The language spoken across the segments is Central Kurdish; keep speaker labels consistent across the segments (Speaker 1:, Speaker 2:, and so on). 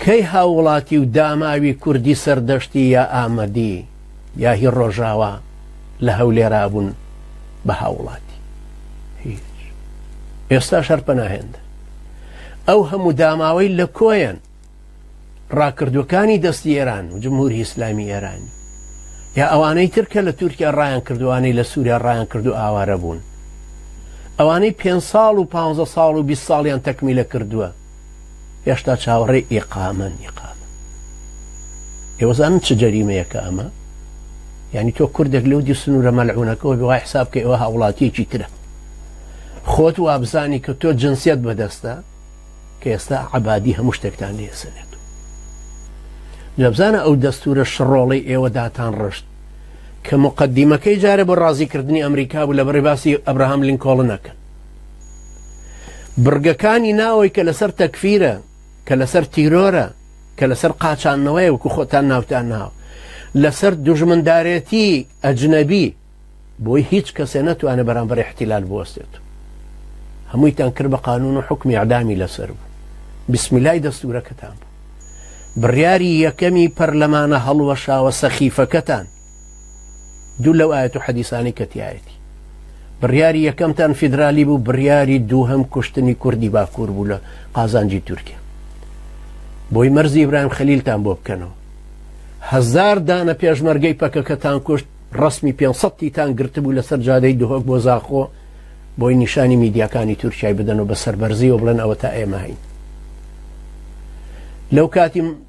Speaker 1: کەی هاووڵاتی و داماوی کوردی سەردەشتی یا ئامەدی یا هی ڕۆژاوا لە هەولێرا بوون بە هاووڵاتی؟ هیچ. ئێستاش هەر پەناهێندن. ئەو هەموو داماوەی لە کۆیەن؟ ڕاکردووەکانی دەستی ئێران و جمهوری ئیسلامی ئێرانی؟ یا ئەوانەی تر کە لە تورکیا ڕایان کرد و ئەوانەی لە سووریا ڕایان کرد و ئاوارە بوون؟ ئەوانەی پێنج ساڵ و پانزە ساڵ و بیست ساڵیان تەکمیلە کردووە؟ هێشتا چاوەڕێی ئیقامەن ئیقامە ئێوەزانن چ جەریمەیەکە ئەمە ینی تۆ کوردێک لەو دی سنوورە مەلعونەکەەوە بەوای حساب کە ئەوە هاوڵاتیەکی ترە خۆت وابزانی کە تۆ جنسیت بەدەستە کە ئێستا عبادی هەموو شتێکتان لێسەنێت لەبزانە ئەو دەستورە شڕۆڵی ئێوە داتان ڕشت کە مقدمەکەی جارە بۆ ڕازیکردنی ئەمریکا بوو لە بڕی باسی ئەبراهام لینکۆڵنەکەن بڕگەکانی ناوەی کە لەسەر تەکفیرە کە لەسەر تیرۆرە کە لەسەر قاچانەوەی وەکو خۆتان ناوتان ناو لەسەر دژمندارێتی ئەجنەبی بۆی هیچ کەسێ نەتوانێت بەرامبەر احتیلال بوەستێت هەموویتان کرد بە قانون و حکمی عدامی لەسەر بوو بسمیلای دەستورەکەتان بوو بڕیاری یەکەمی پەرلەمانە هەڵوەشاوە سەخیفەکەتان دوو لەو ئاەت و حەدیسانی کە تایەتی بڕیاری یەکەمتان فیدرالی بوو بڕیاری دووهم کوشتنی کوردی باکوور بوو لە قازانجی تورکیا بۆی مەرزی ئیبراهیم خەلیلتان بۆ بکەنەوە هزار دانە پێشمەرگەی پەکەکەتان کوشت ڕسمی 500 تان گرتبوو لەسەر جادەی دهۆک بۆ زاخۆ بۆی نیشانی میدیاکانی تورکای بدەن و بە سەربەرزیەوە بڵێن ئەوە تا ئێمە هەین لەو کاتی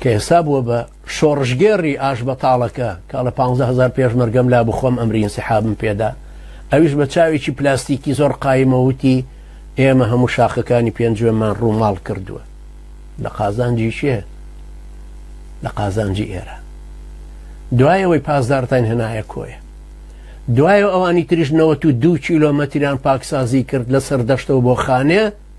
Speaker 1: کە ئێستا بووە بە شۆڕشگێڕی ئاش بەتاڵەکە کا لە 15هزار پێشمەرگەم لا بخۆم ئەمرین سحابم پێدا ئەویش بە چاوێکی پلاستیکی زۆر قایمەوتی ئێمە هەموو شاخەکانی پێنجوێمان ڕووماڵ کردووە لە قازانجی شێ لە قازانجی ئێرە دوایەوەی پاسدارتان هێنایە کۆیە دوایە ئەوانی تریشنەوە و دوو کیلۆمەتریان پاکسازی کرد لە سەردەشتەوە بۆ خانێ